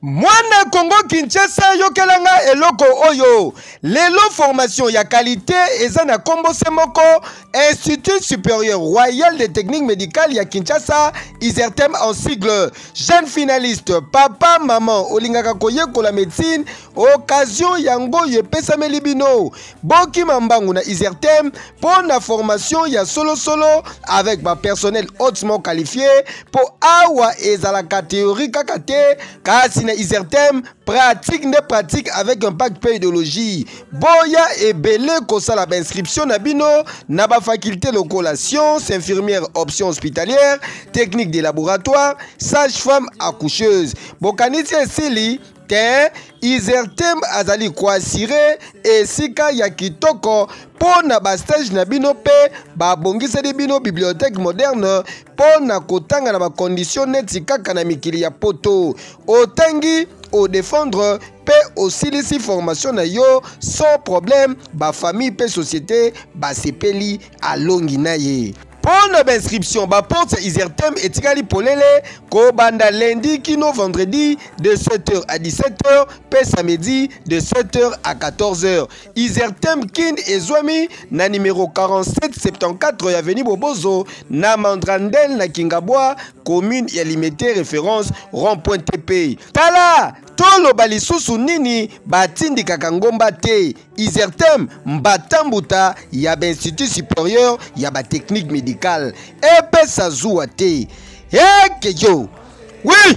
mwana kongo kinshasa yokela nga eloko oyo lelo formation ya kalite eza na nkombo se moko institut supérieur royal de technique médicale ya kinshasa isertem en sigle jeune finaliste papa maman olingaka koyekola médecine occasion yango oyo epesameli bino bokima mbangu na isertem mpo na formation ya solosolo avec bapersonnel hautement qualifie mpo awa ezalaka théorie kaka te kasi na isertem pratique nde pratique avec impact mpe idéologie boya ebele kosala bainscription na bino na bafaculte lokola science infirmière option hospitalière technique de laboratoire sage femme accoucheuse bokanisi esili te isertem azali koasire esika ya kitoko mpo na bastage na bino mpe babongiseli bino bibliothèque moderne mpo na kotanga na bakondisio neti kaka na mikili ya poto otangi odefendre mpe osilisi formation na yo sans problème bafamille mpe société basepeli alongi na ye Mpo na bainscription, baporte ya Isertem etikali polele kobanda lundi kino vendredi de 7h à 17h mpe samedi de 7h à 14h. Isertem Kin ezwami na numero 4774 ya avenue Bobozo na Mandrandel na Kingabwa, commune ya Limete, référence rond-point TP. Tala toloba lisusu nini batindikaka ngomba te. Isertem mbata mbuta ya ba institut supérieur ya ba technique médicale epesa zuwa te ekeyo oui